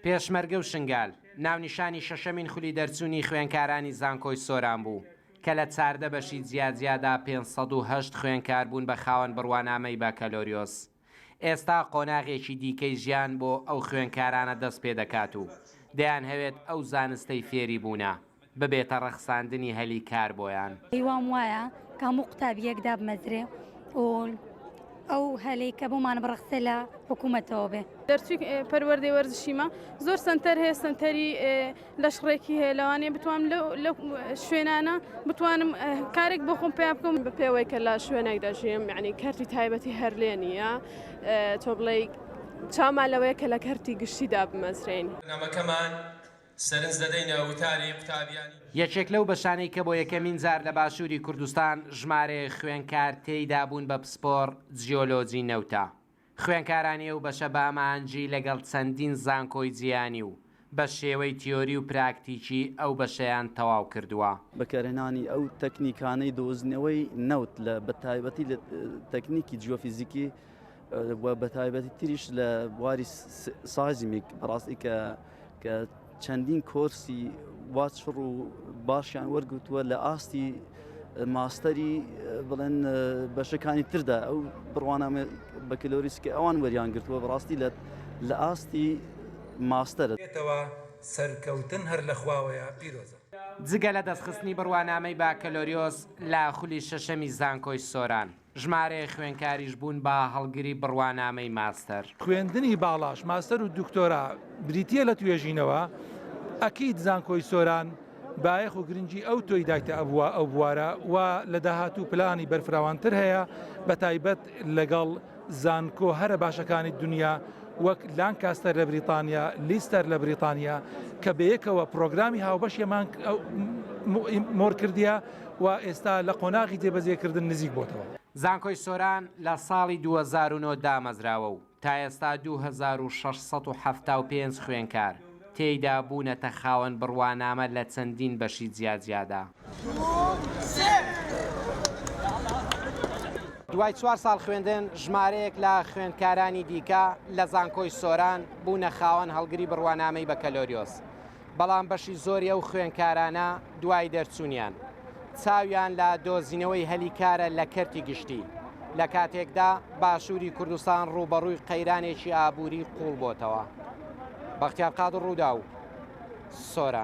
پێشمەرگە و شنگال، ناونیشانی شەشەمین خولی دەرچوونی خوێندکارانی زانکۆی سۆران بوو، کە لە چاردە بەشی جیاجیادا پێنج سەد و هەشت خوێندکار بوون بە خاوەن بڕوانامەی بەکەلۆریۆس. ئێستا قۆناغێکی دیکەی ژیان بۆ ئەو خوێندکارانە دەست پێدەکات و دەیانهەوێت ئەو زانستەی فێری بوونە. ببێتە ڕەخساندنی هەلی کار بۆیان. هیوام وایە کە هەموو قوتابییەک دابمەزرێ و ئەو هەلەی کە بۆمان بڕەخسێ لە حکوومەتەوە بێ. دەرچووی پەروەردەی وەرزشیمە، زۆر سەنتەر هەیە، سەنتەری لەشڕێکی هەیە، لەوانەیە بتوانم لەو شوێنانە بتوانم کارێک بۆ خۆم پەیا بکەم. بە پێوەی کە لە شوێنێک دەژیم، یانی کەرتی تایبەتی هەر لێ نییە، تۆ بڵێی چاومان لەوەیە کە لە کەرتی گشتی دابمەزرێین. بەرنامەکەمان سەرنج دەدەینە وتاری قوتابیانی. یەکێک لەو بەشانەی کە بۆ یەکەمین جار لە باشووری کوردستان ژمارەیەک خوێنکار تێیدا بوون بە پسپۆڕ جیۆلۆجی نەوتە. خوێنکارانی ئەو بەشە بە ئامانجی لەگەڵ چەندین زانکۆی جیهانی و بە شێوەی تیۆری و پراکتیکی ئەو بەشەیان تەواو کردووە. بەکارهێنانی ئەو تەکنیکانەی دۆزینەوەی نەوت لە بە تایبەتی لە تەکنیکی جیۆفیزیکی و بەتایبەتی تریش لە بواری سازیمیک بەڕاستی کە کە چەندین کۆرسی وا چڕ و باشیان وەرگوتووە لە ئاستی ماستەری بڵێن بەشەکانی تردا ئەو بڕوانامە بەکلۆریسکە ئەوان وەریان گرتووە بەڕاستی لە لە ئاستی ماستەرە بێتەوە سەرکەوتن هەر لە خواوەیە پیرۆزە. جگە لە دەستخستنی بڕوانامەی باکەلۆریۆس لە خولی شەشەمی زانکۆی سۆران، ژمارەیەک خوێندکاریش بوون بە هەڵگری بڕوانامەی ماستەر. خوێندنی باڵاش، ماستەر و دکتۆرا، بریتییە لە توێژینەوە، ئەکید زانکۆی سۆران بایەخ و گرنگی ئەوتۆی دایتە ئەو بوارە و لە داهاتوو پلانی بەرفراوانتر هەیە بە تایبەت لەگەڵ زانکۆ هەرە باشەکانی دنیا وەک لانکاستەر لە بریتانیا، لیستەر لە بریتانیا کە بەیەکەوە پرۆگرامی هاوبەشیەمان مۆرکردیە. و ئێستا لە قۆناغی جێبەجێکردن نزیک بۆتەوە. زانکۆی سۆران لە ساڵی دوو هەزار و نۆ دامەزراوە و تا ئێستا دوو هەزار و شەش سەد و حەفتا و پێنج خوێنکار تێیدا بوونەتە خاوەن بڕوانامە لە چەندین بەشی جیاجیادا. دوای چوار ساڵ خوێندن، ژمارەیەک لە خوێندکارانی دیکە لە زانکۆی سۆران بوونە خاوەن هەڵگری بڕوانامەی بەکەلۆریۆس. بەڵام بەشی زۆری ئەو خوێندکارانە دوای دەرچوونیان چاویان لە دۆزینەوەی هەلی کارە لە کەرتی گشتی، لە کاتێکدا باشووری کوردستان ڕووبەڕووی قەیرانێکی ئابووری قووڵ بۆتەوە. بەختیار قادر، ڕووداو، سۆران.